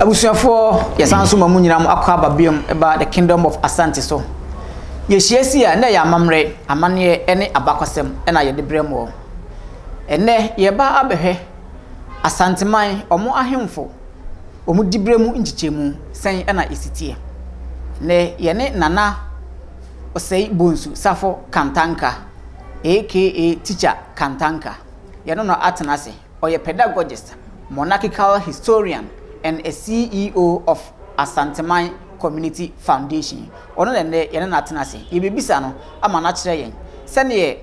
abusuafoɔ yɛsan so ma mu nyinaa akɔ aba biom ɛba the kingdom of asante so yɛhyia si a na ɛyɛ amammerɛ amanneɛ ne abakɔsɛm ɛna yɛde brɛ mu ɛnɛ yɛba abɛhwɛ Asanteman, wɔn ahemfo, wɔn diberɛ mu nkyekyɛmu sɛn na ɛsi teɛ? Nnɛ, yɛne Nana Osei Bonsu Safo Kantanka aka Teacher Kantanka, yɛne no atena ase. Ɔyɛ pedagogist, monarchical historian and a CEO of Asanteman Community Foundation. Ɔno na nnɛ yɛne no atena ase. Yɛbɛbisa no ama no akyerɛ yɛn sɛdeɛ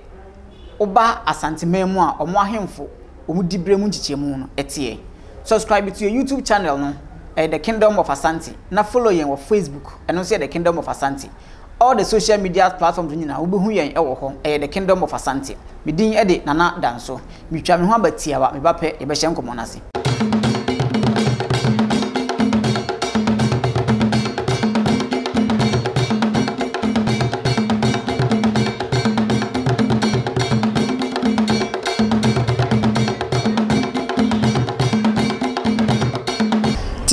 woba Asanteman mu a ɔmo ahemfo ɔmo diberɛ mu nkyekyɛmu no teɛ. Subscribe to yɛn YouTube channel no, ɛyɛ The Kingdom of Asante, na follow yɛn wɔ Facebook, ɛno nso yɛ The Kingdom of Asante. All the social media platforms no nyinaa wobɛhu yɛn wɔ hɔ, ɛyɛ The Kingdom of Asante. Me din de Nana Danso. Metwa me ho aba tiawa, me ba pɛ, yɛbɛhyɛ nkɔmmɔ no ase.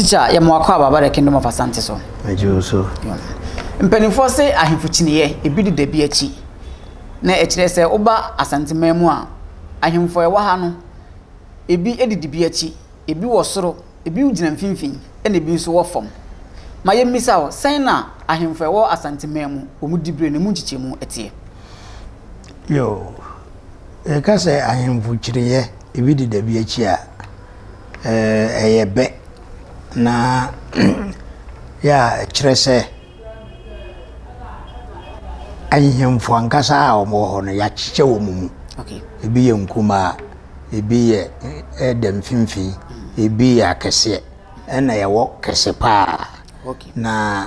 teacher yɛ mo akɔ ababa the kingdom of asante so ɛgye so mpanimfoɔ se ahemfo kyiniiɛ ebi de dabi akyi na ɛkyerɛ sɛ woba asanteman mu a ahemfo ɛwɔ ha no Ebi didi bi akyi, ebi wɔ soro, ebi gyina mfimfini, ɛnna ebi nso wɔ fam. Ma yemmisa wo, sɛn na ahemfo a ɛwɔ Asanteman mu, wɔn dibere ne emu nkyekyɛmu teɛ? Yoo, yɛka sɛ ahemfo kyiniiɛ, ebi deda bi akyi a, ɛyɛ bɛ, na yɛ a ɛkyerɛ sɛ. Ahemfo ankasa a wɔwɔ hɔ no, wɔakyekyɛ wɔn mu. Ebi yɛ nkumaa, ebi yɛ ɛda mfimfini, ebi yɛ akɛseɛ, ɛnna yɛwɔ kɛse pa ara. Na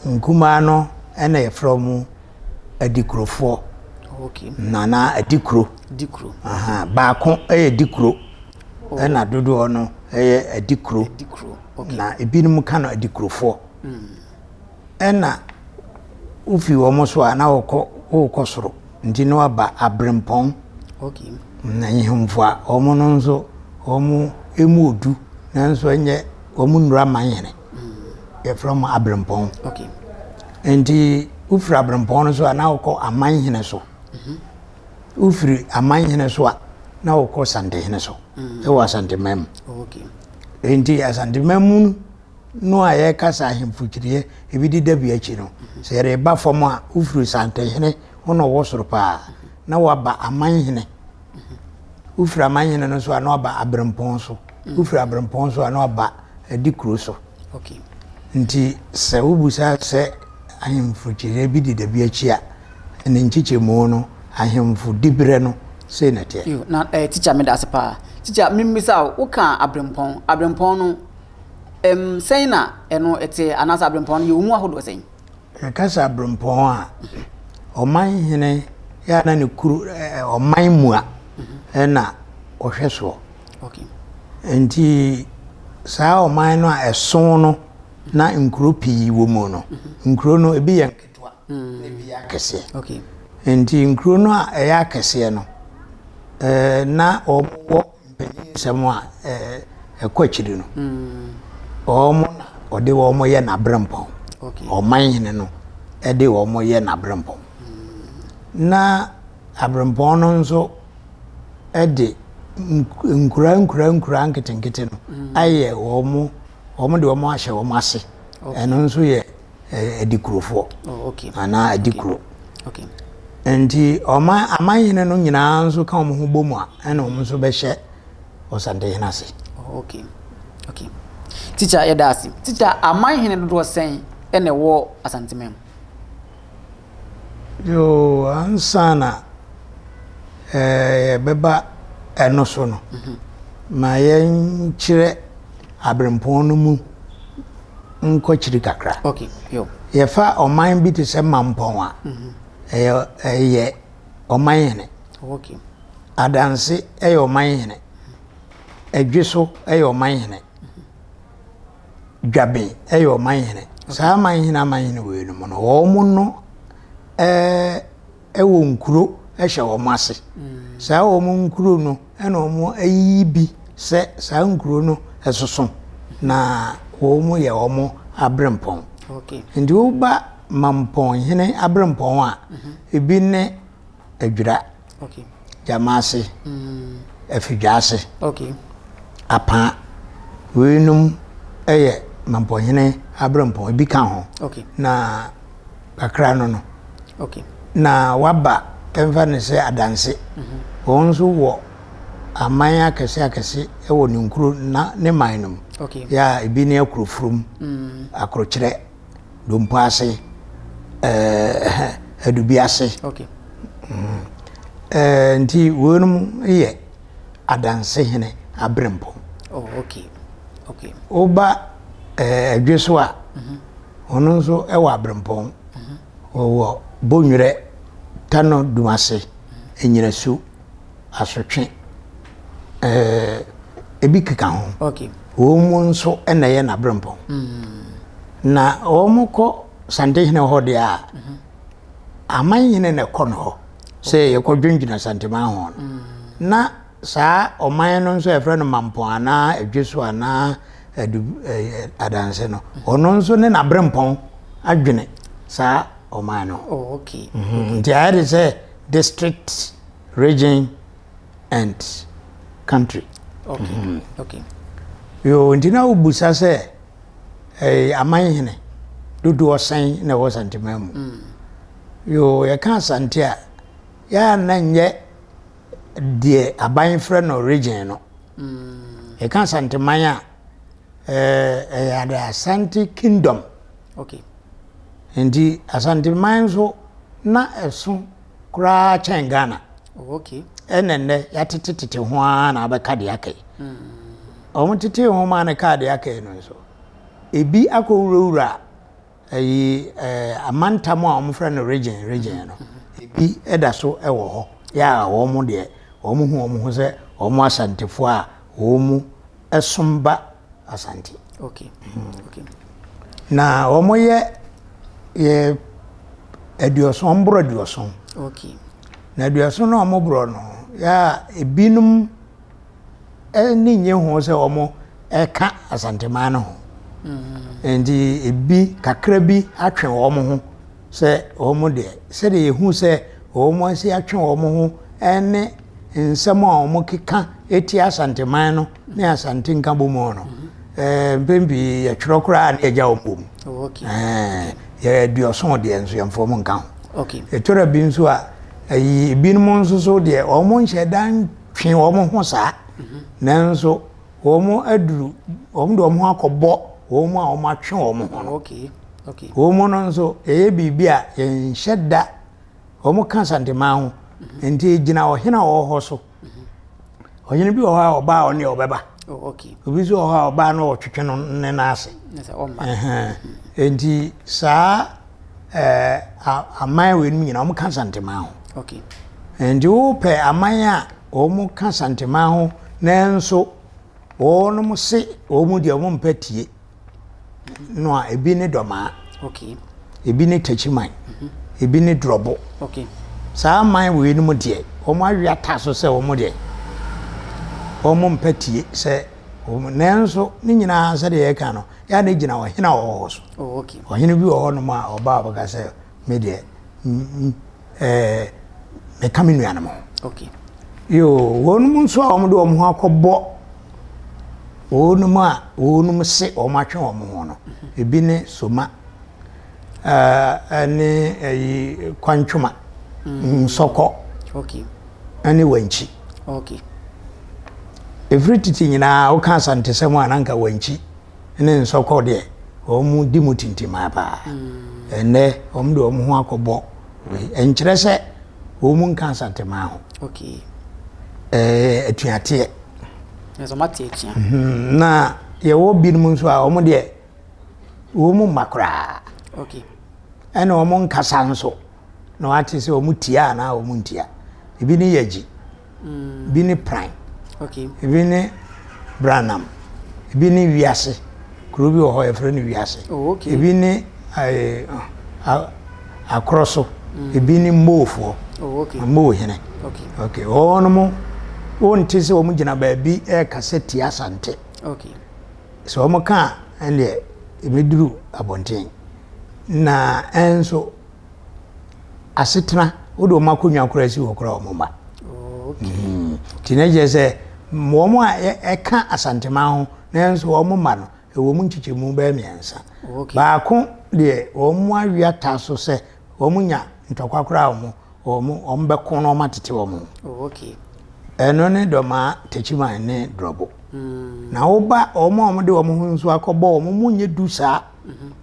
nkumaa no na wɔfrɛ wɔn Adikurofoɔ, anaa Adikuro. Ahaa baako yɛ Dikuro, ɛnna dodoɔ no yɛ Adikuro, na ebinom ka no Adikurofoɔ. Ɛna wofi wɔn so a na wɔkɔ wokɔ soro nti na waba aberempɔn na nhemfo a wɔn no nso wɔn emu odu nanso ɛnyɛ wɔn nnura man hene yɛfrɛ wɔn aberempɔn nti wofiri aberempɔn no so a na wokɔ aman hene so wofiri aman hene so a na wokɔ santehene so ɛwɔ asanteman mu nti asanteman mu no a yɛrekasa ahemfo kyiriɛ ebi de da bi akyi no sɛ yɛreba fam a wofiri santenhene ho na ɔwɔ soro paa na waba amanhene wofiri amanhene no so a na waba aberempɔn so wofiri aberempɔn so a na waba adi kuro so nti sɛ wobusa sɛ ahemfo kyiriɛ bi de da bi akyi a ne nkyekyɛmu no ahemfo diberɛ no sei na ɛteɛ na eh, tikya meda ase paa tikya memmisa woka aberempɔn aberempɔn no Ɛm, sɛn na ɛno te, anaasɛ aberempɔn no, yɛwɔ mu ahodoɔ sɛn? Yɛka sɛ aberempɔn a, ɔman hene yɛ a na ne kuro, ɔman mua na ɔhwɛ soɔ. Okay. Nti saa ɔman no a ɛso no na nkuro pii wɔ mu no, nkuro no ebi yɛ nketewa na ebi yɛ akɛseɛ. Okay. Nti nkuro no a ɛyɛ akɛseɛ no, ɛɛ na wɔwɔ Mpanyin nsɛm a ɛkɔ akyiri no, wɔn na ɔde wɔn yɛ n'aberempɔn. Ɔman hene no de wɔn yɛ n'aberempɔn. Na aberempɔn no nso de nkura nkura nkura nketenkete no ayɛ wɔn, wɔn de wɔn ahyɛ wɔn ase. Ɛno nso yɛ adikurofoɔ anaa adikuro nti ɔman aman hene no nyinaa nso ka wɔn ho bɔ mu a ɛna wɔn nso bɛhyɛ ɔsantehene ase. okay okay tikya yɛda ase tikya aman hene dodoɔ sɛn ɛna ɛwɔ asanteman mu. Yoo, ansa na yɛbɛba ɛno so no, ma yɛnkyerɛ abirempɔn no mu nkɔkyiri kakra. Yɛfa ɔman bi te sɛ Mampɔn a, ɛyɛ ɔman hene. Adanse yɛ ɔman hene. Adweso yɛ ɔman hene. Dwabe yɛ ɔmanhene. Saa amanhene amanhene wei no mu no, wɔn no ɛɛ wɔ nkuro hyɛ wɔn ase. Saa wɔn nkuro no ɛna wɔn ayiyi bi sɛ saa nkuro no ɛsoso na wɔn yɛ wɔn abrempɔn. Nti woba mampɔnhene abrempɔn a, ebi ne Adwira, Gyamaase, Afidwaase, Apaa. Weinom yɛ Mampɔhene aberempɔn, ebi ka ho. Na kakra no no. Na waba ɛmfa ne sɛ adanse. Mhm. Wɔn nso wɔ aman akɛse akɛse wɔ ne nkuro na ne man no mu. Yɛ a ebi ne Akrofurom, mm. Akrokyerɛ, Dompo ase, ɛɛ adubi ase. Okay. Mm. Ɛɛ nti wɔnom yɛ adanse hene abrempo. Oh, okay. Okay. Oba ɛɛ adwe so a. Mhm. Wɔn nso ɛwɔ abrempɔn. Mhm. Wɔwɔ bonwerɛ tano dumase mhm. enyinasu. asotwe ɛɛ ebi keka ho okay wɔn mu nso ɛna ɛyɛ n'abrɛmpɔn mm-hmm. na wɔn kɔ santehene hɔ deɛ a mm-hmm. aman nyina na ɛkɔ no hɔ sɛ yɛkɔ dwendwena santeman ho no mm. na saa ɔman no nso yɛfrɛ no mampɔn anaa adwe so anaa adu ɛɛ adanse no mm-hmm. ɔno nso ne n'abrɛmpɔn adwene saa ɔman no oh, okay. nti ayɛ de sɛ District, region and country. Okay. Okay. Yo, nti na wobusa sɛ eh, aman hene dodoɔ sɛn na ɛwɔ santeman mu. Mm. Yo, yɛka asante a, yɛa na nyɛ deɛ aban frɛ no region no. Mm. Yɛka asanteman a, eh, ɛyɛ eh, asante kingdom. Okay. Nti Asanteman nso na ɛso koraa kyɛn Ghana. Oh, okay. Ɛna nnɛ yɛatete tete ho ara na abɛka deɛ aka yi. Wɔn hmm. tete ho ma no kaa deɛ aka yi no nso. Ebi akɔ wurawura ɛyi ɛɛ eh, amantam a wɔfrɛ no region region hmm. no. Ebi ɛda so ɛwɔ hɔ. Yɛ a wɔn deɛ wɔn ho wɔn ho sɛ wɔn asantefoɔ a wɔn mu som ba Asante. Okay. Mm. Okay. Na wɔn yɛ yɛ aduoson wɔn borɔ aduoson. Okay. Na aduoson na wɔn borɔ no yɛ a ebinom ne nye ho sɛ wɔn ɛka Asanteman no ho. Mm-hmm. Nti ebi kakra bi atwe wɔn ho. Sɛ wɔn deɛ, sɛdeɛ yɛhu sɛ wɔn asi atwe wɔn ho ne nsɛm a wɔkeka tia Asanteman no ne Asante Nkabom no, mpɛn pii yɛtwerɛ koraa ne yɛgya wɔn bom. Yɛduɔso deɛ nso yɛmfa wɔn nka ho. Ɛtɔra bi nso a, ebinom nso so deɛ wɔn nhyɛ da ntwe wɔn ho saa, nanso wɔde wɔn ho akɔbɔ wɔn a wɔatwe wɔn ho no. Wɔn no nso, ɛyɛ biribi a yɛnhyɛ da, wɔka Asanteman ho, nti ɛgyina ɔhene a ɔwɔ hɔ so. Ɔhene bi wɔ hɔ a ɔba a ɔne ɔbɛba. Obi nso wɔ hɔ a ɔba na ɔtwetwe no ne nan ase. Nti saa aman wei no nyinaa wɔka Asanteman ho. Nti wopɛ aman a wɔka Asanteman ho Nanso wɔnom se wɔn deɛ wɔn mpɛ tie no a ebi ne dɔmaa, okay. ebi ne takyiman, mm -hmm. ebi ne drɔbo. Okay. Saa man wei no mu deɛ wɔn awe ata so sɛ wɔn deɛ wɔn mpɛ tie sɛ wɔn nanso ne nyinaa sɛdeɛ yɛka no yɛ a ne gyina ɔhene a ɔwɔ hɔ so. Oh, okay. Ɔhene bi wɔ hɔ nom a ɔbaa ɔbɛka sɛ me deɛ eh, meka me nuanom ho okay. yo wɔnom nso a wɔde wɔn ho akɔbɔ wɔnom a wɔnom se wɔn atwe wɔn ho no ebi ne soma ɛne eh, ɛyi eh, kwantwoma mm. nsɔkɔ ɛne wankyi ɛfiri titi nyinaa woka asantesɛm a na nka wankyi ne nsɔkɔ deɛ wɔn di mu tintimaa paa ɛnɛ wɔn de wɔn ho akɔbɔ wei ɛnkyerɛ sɛ wɔn nka asantemaa ho ɛɛ atuateɛ mhm. na yɛwɔ binom nso a wɔn deɛ wɔn mma koraa ɛna wɔn nkasa nso na wɔate sɛ wɔn tia anaa wɔn ntia ebi ne yɛ gyi. Ebi ne pran. Ebi ne branam. Ebi ne wiase. Kuro bi wɔ hɔ yɛfrɛ no wiase. Oh, ebi ne eh, akorɔ so. Mm. Ebi ne moofoɔ. Oh, okay. Moo hene. Okay. Okay. Wɔn mo wonte sɛ wɔn gyina baabi ɛrekasa tia asante. Okay. Sɛ wɔn ka ɛndeɛ ebeduru abɔnten na ɛnso. asetena wode wɔn akonnwa koraa si hɔ koraa wɔn mma hmm. nti na kyerɛ sɛ wɔn a ɛka asanteman ho nanso wɔn mma no ɛwɔ mu nkyekyɛmu bɛyɛ mmiɛnsa baako deɛ wɔn mu awi ata so sɛ wɔn nya ntɔkwa koraa wɔn wɔn wɔn bɛko na wɔn atete wɔn ɛno ne dɔmaa takyiman ne dɔbo hmm. na woba wɔn a wɔde wɔn ho nso akɔbɔ wɔn mu nyɛ du saa.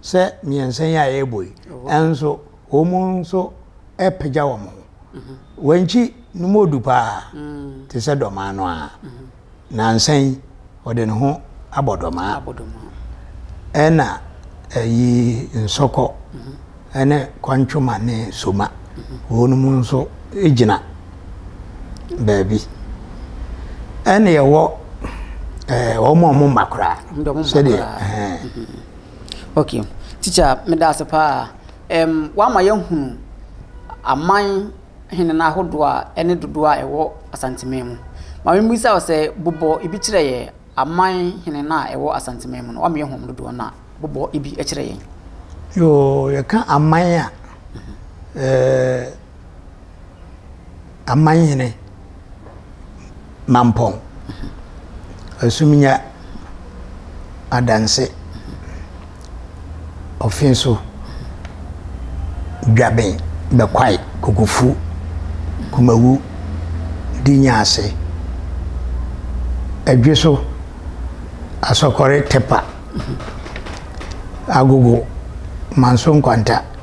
sɛ mmiɛnsa yi a yɛrebɔ yi nso wɔn nso apagya wɔn ho wankyi no mu odu paa te sɛ dɔmaa no a nansa yi ɔde ne ho abɔ dɔmaa ɛna ayi nsɔkɔ ne Kwantwoma ne Soma, wɔnom nso gyina baabi. Ɛne ɛwɔ eh, wɔn a wɔn mma koraa. Sɛdeɛ. Eh. Okay. Teacher, meda ase paa. Um, wama yɛhunu aman hene no ahodoɔ a ɛne dodoɔ a ɛwɔ Asanteman mu. Ma memmisa wo sɛ bobɔ ebi kyerɛ yɛ Aman hene no a ɛwɔ Asanteman mu no wameyɛ hom dodoɔ no a bobɔ ibi kyerɛ yɛn. Yoo yɛka aman a ɛɛ aman hene mampɔn asumnya adanse. ɔfin so dwaben bɛkwae kokofu kumawu di nyaase ɛdwe so asɔkɔre tɛpa agogo manso nkwanta.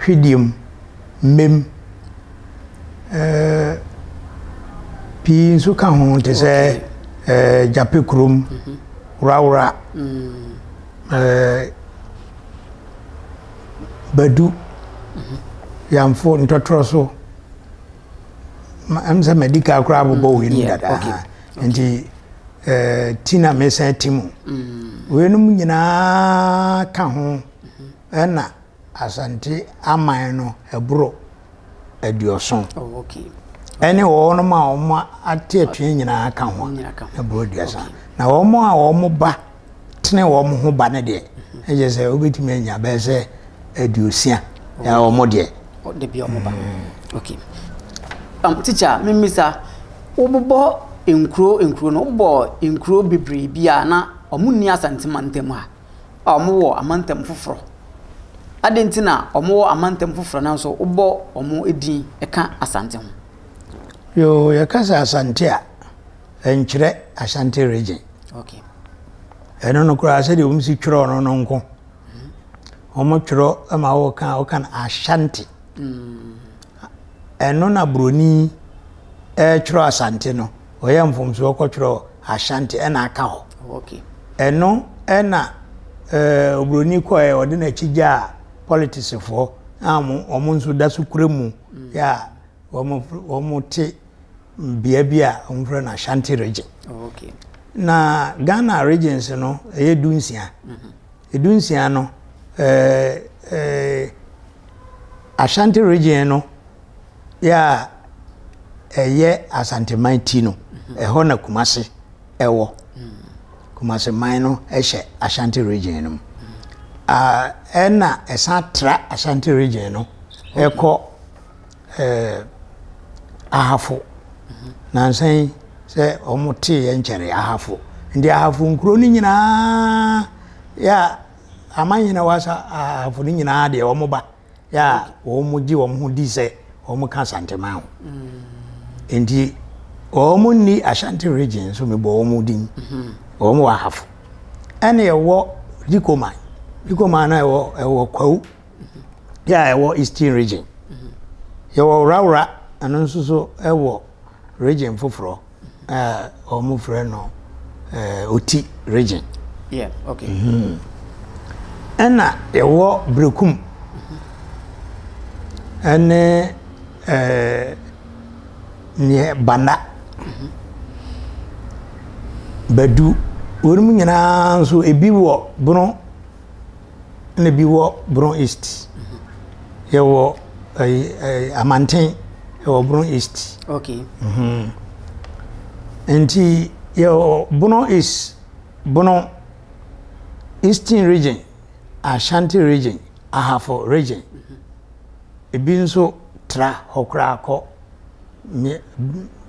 Twideɛm, Mmem, eh, pii nso ka ho te sɛ eh, Gyape Kurom, Worawora, eh, Badu, Yamfo, Ntɔtorɔ so. Ɛm sɛ madi ka koraa bobɔ wei nom dada. Nti eh, ti na mesan ti mu. Weinom nyinaa ka ho. Ɛna Asante aman no boro aduɔson. Oh, okay. Ɛne wɔnom a wɔn ate atua nyinaa ka ho na boro aduasa. Na wɔn a wɔn ba tene wɔn ho ba no deɛ, ɛyɛ mhm. sɛ wobɛtumi anya bɛyɛ sɛ aduosia na wɔn deɛ. Ɔde bi wɔn ba. Mm. Okay. Um, teacher, mimisa, wobobɔ nkuro nkuro no, wobɔ nkuro bebree bi a na wɔn nni asantemantam ha. a wɔwɔ amantam foforɔ. Adɛn nti na wɔwɔ amantam foforɔ nanso wobɔ wɔn din ka Asante ho? Yoo, yɛka sɛ Asante a, ɛnkyerɛ Ashanti region. Okay. ɛno no koraa sɛdeɛ wɔn si twerɛ no no nko wɔn twerɛ ma wɔka wɔka no Ashanti. Mm. Ɛno na broni retwerɛ asante no ɔyɛ mfomsoɔ kɔtwerɛ ashanti ɛna aka hɔ okay. ɛno ɛna eh, obroni kɔɛ ɔde n'akyi gyaa politicsfoɔ a wɔn nso da so kura mu mm. yɛ a wɔn te bea bi a wɔfrɛ no ashanti region okay. na ghana regions no ɛyɛ du nsia mm -hmm. Dunsia no, eh, eh, Ashanti region no yɛ a ɛyɛ Asanteman ti no, ɛhɔ na Kumase ɛwɔ. Kumase man no ɛhyɛ Ashanti region no mu. Ah, ɛna ɛsan tra Ashanti region no ɛkɔ. ɛɛ Ahafo. Nansa yi sɛ wɔn tee yɛ nkyɛree Ahafo. Nti Ahafo nkuro no nyinaa yɛ aman nyinaa wɔ asa Ahafo no nyinaa deɛ wɔn ba yɛ a wɔn gye wɔn ho di sɛ wɔn ka Asanteman ho. Mm. Nti wɔn nni Ashanti region so mebɔ wɔn din. Mm-hmm. Wɔn wɔ Ahafo. Ɛna ɛwɔ Dikoman. Dikoman na ɛwɔ ɛwɔ Kwawu. yɛ a ɛwɔ Eastern Region. Yɛwɔ Worawora, ɛno nso so ɛwɔ region foforɔ a wɔn frɛ no eh, Oti region. Yeah, okay. Mm-hmm. Ɛna yɛwɔ Berekum ɛne eh, neɛ Banda. Mm-hmm. Badu, wɔn nyinaa nso ebi wɔ Bono ɛna ebi wɔ Brong East. Yɛwɔ ɛyi ɛyi Amanten ɛwɔ Brong East. Okay. Mm-hmm. Nti yɛwɔ Brong East, Brong Eastern region, Ashanti region, Ahafo region. Mm-hmm. Ebi nso tra hɔ koraa kɔ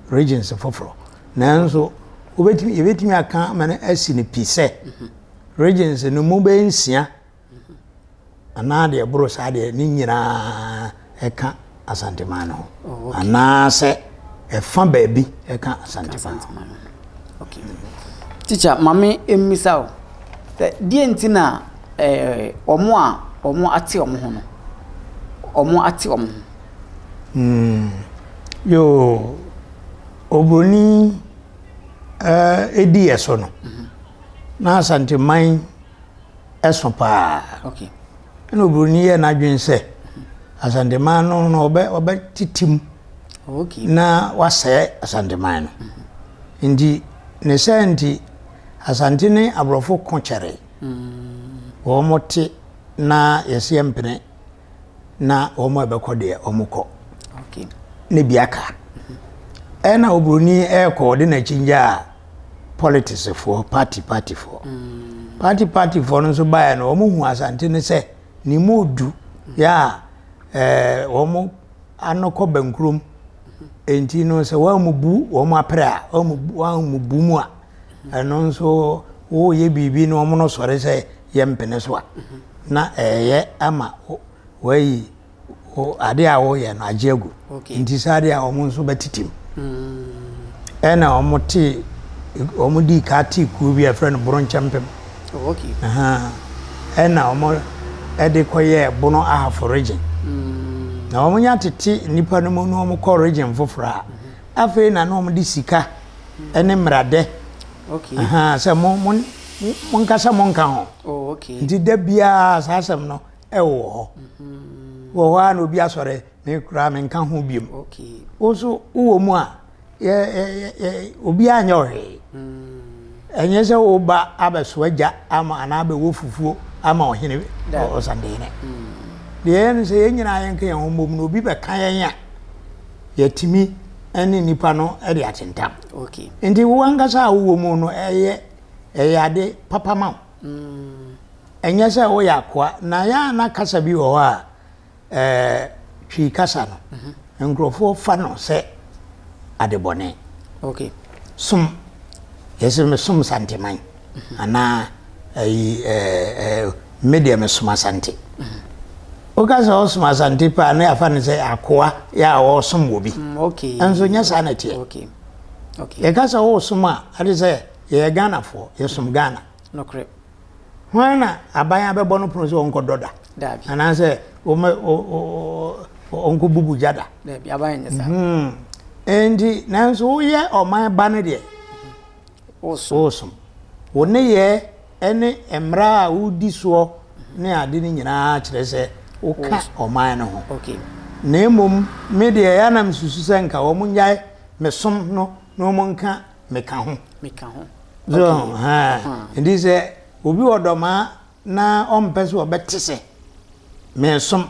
regions foforɔ. Nanso wobɛtumi yɛbɛtumi aka ama no asi no pi sɛ. Mm-hmm. Regency no mu bɛyɛ nsia anaa deɛ ɛboro saa deɛ ne nyinaa ɛka Asanteman no ho oh, anaasɛ ɛfa baabi ɛka Asanteman ho. Teacher, maame mmisa o, deɛ nti na eh, wɔn a wɔn ate wɔn ho no, wɔn ate wɔn ho. Hmm. Yoo, obroni ɛdi eh, yɛ so no. Mm -hmm. na Asanteman ɛso paa. Okay. Ɛna oburoni yɛ n'adwene sɛ Asanteman no na ɔbɛ ɔbɛ titim. Okay. Na wasɛɛ Asanteman no. Mm-hmm. Nti ne sɛ nti Asante ne aborɔfo ko kyɛre. Mm. Wɔn te na yɛsi mpene. na wɔn a ɛbɛkɔ deɛ wɔn kɔ ne bi aka ɛna oburoni ɛrekɔ ɔde n'akyi ngya a politicsfoɔ party partyfoɔ mm. party partyfoɔ no nso baeɛ no wɔn hu asante no sɛ ne mu odu yɛ a ɛɛ wɔn ano kɔ bɛnkurom nti no sɛ wɔn mu bu wɔn apere a wɔn mu bu mu a. Ɛno nso woyɛ biribi na wɔn no sɔre sɛ yɛ mpene so a na ɛyɛ ama wɔayi adeɛ a wɔyɛ no agye agu nti saa adeɛ a wɔn nso bɛtitim mm. ɛna wɔn te wɔn di ka te kuo bi a ɛfrɛ no boronkyɛmpem oh, ɛna wɔn ɛde kɔyɛ bono ahafo region mm. na wɔn nya tete nipa no mu na wɔn kɔ region foforɔ a. Afei na na wɔde sika ne mmerade sɛ mo mo monkasa monka ho. Oh, Nti da biara saa asɛm no ɛwɔ hɔ. Mm-hmm. Wɔ hɔ a na obi asɔre me koraa menka ho biom. Wo nso wowɔ mu a obi anyɛ ɔhwee. Mm. Ɛnyɛ sɛ woba abɛsoa gya ama anaa abɛwɔ fufuo ama ɔhene ɔsandene. Mm. Deɛ ɛyɛ no sɛ yɛn nyinaa yɛnka yɛn ho mmom na obi bɛka yɛn a yɛatumi ne nnipa no de atentam. Okay. Nti wo ankasa a wowɔ mu no ɛyɛ ɛyɛ ade papa ma wo. Mm. Ɛnyɛ sɛ woyɛ akoa na yɛ a na kasa bi wɔ hɔ a ɛɛ twi kasa no mhm. nkurɔfoɔ fa no sɛ adebɔne. Okay. Som yɛsɛ me som santeman. anaa ayi ɛɛ ɛɛ me deɛ mesom asante woka sɛ ɔsom asante paa na yɛafa no sɛ akoa yɛ a ɔsom wɔ bi ɛnso mm, nyɛ saa na ɛteɛ yɛka sɛ wosom a ade sɛ yɛyɛ ghanafoɔ yɛsom ghana hwan na aban abɛbɔ no pono sɛ ɔnkɔdɔ da anaasɛ ɔnkɔbubu gya da ɛnti mhm. nanso woyɛ ɔman ba no deɛ woresom. Wo nneyɛɛ ne mmara a woredi soɔ ne ade no nyinaa kyerɛ sɛ woka ɔman no ho. Na mmom me deɛ, ɛyɛ a na mesusu sɛ anka wɔnnyae me som no na wɔnka me ka ho. Nti sɛ obi wɔ dɔm a, na ɔmpɛ sɛ ɔbɛte sɛ meresom.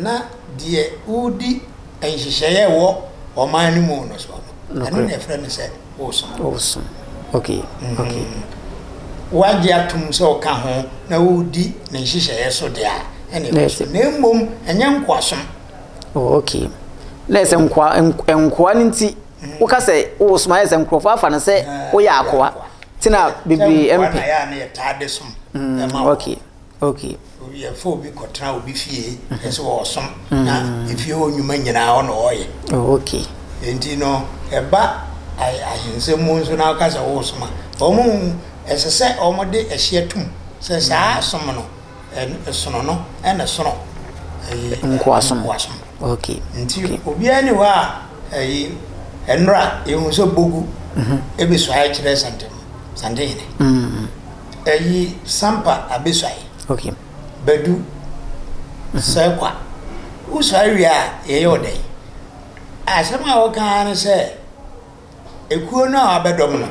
na deɛ woredi nhyehyɛeɛ a ɛwɔ ɔman no mu no soɔ no, ɛno na ɛfrɛ no sɛ wosom. Wosom. Okay. Mm-hmm. Okay. Wagye atom sɛ ɔka ho na woredi ne nhyehyɛeɛ so deɛ a, ɛna ɛwɔ so. Na mmom, ɛnyɛ nkoasom. Oh, okay. Na ɛsɛ nkoa nkoa no nti mm-hmm. woka sɛ wosom ayɛ sɛ nkurɔfoɔ afa no sɛ woyɛ akoa. Tena bebree mpɛ. Sɛ nkoa na yɛ a na yɛtaa de som. Mm, okay. Okay. Obi yɛfa obi kɔtena obi fie ɛsɛ wɔ ɔsom na efie hɔ nnwuma nyinaa ɔna ɔyɛ. Oh, okay. Nti no ɛba ahensɛm mu nso na ɔka sɛ wɔsom a wɔn hu ɛsɛ sɛ wɔn de ɛhyɛ tum sɛ saa som no ɛsono no ɛna sono ɛyi nkoasom. Okay. Nti obiara ni hɔ a ɛyi ɛnora ehu sɛ bogu ebesua ɛkyerɛ santen santen hene. Ɛyi sampa abesuae. Okay. Badu sɛ kwa. Wosuae wie a yɛyɛ wo dɛn? Asɛm a woka ara ne sɛ ekuo no a wabɛdɔm no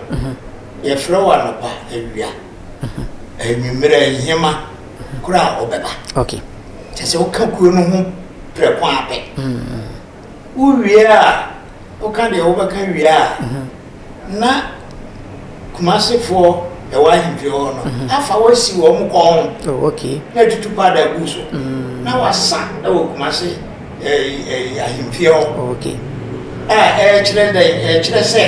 yɛfrɛ wo anɔpa, awia, anwummerɛ, nhema koro a wobɛba. Okay. Kyɛ sɛ woka kuo no ho prɛko ara pɛ. Wowie a, woka deɛ wobɛka wie a, na Kumasefoɔ ɛwɔ ahemfie hɔ no mm-hmm. afa wasi wɔn kɔn ho oh, na atutu paada gu so mm. na wasa wɔ Kumase ahemfie hɔ oh, a ɛkyerɛ dɛ ɛkyerɛ sɛ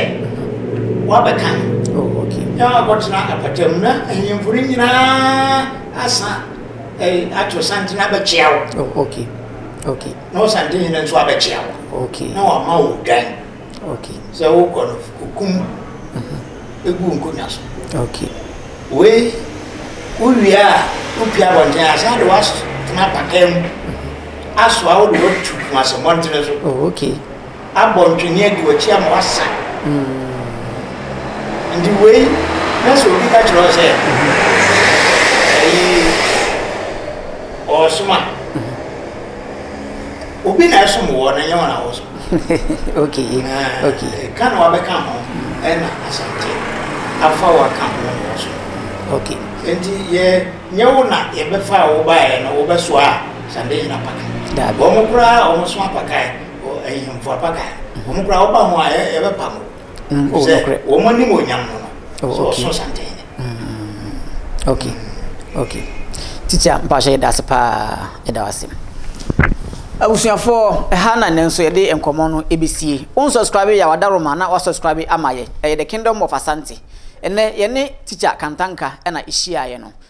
wabɛka oh, na wakɔtena apata mu na ahemfo no nyinaa asa ato santene abɛkyea wo na wo santene no nso abɛkyea wo okay. na wama wo odwan okay. sɛ wokɔ no okum mm-hmm. ɛgu nkonnwa so okay. wei wowie a wopia abɔnten a saa de woatena pakaa mu mm-hmm. asoa wode watu kumasɛmmɔntene so oh, okay. abɔ ntwene adi w'akyi ama w'asa. Nti wei, na sɛ obi ka kyerɛ wo sɛ, ayi, ɔɔsoma. Obi na ɛsom wɔ, na nyɛ wɔn a wɔsom. Ok, ok. Ɛka na wabɛka ho, ɛna asante afa waka ho na wɔsom. Ok. Nti yɛ, nyɛ wo na yɛbɛfa a wobaeɛ no, wobɛsoa a, sande nyina paka. Daabi. Wɔn koraa a wɔso apakae. ahemfo apa ka wɔn kura wɔba ho a yɛbɛpa mo mm, oh, sɛ wɔn anim onyam no no oh, sɛ ɔso santen mm, okay okay titi a mpahyɛ yɛda ase paa yɛda ase abusuafoɔ ɛha na nnɛ nso yɛde nkɔmmɔ no ɛbɛsie wo nsubscribe yɛ wada roma na wasubscribe ama yɛ ɛyɛ the kingdom of asante ɛnɛ yɛne teacher kantanka ɛna ɛhyiaeɛ no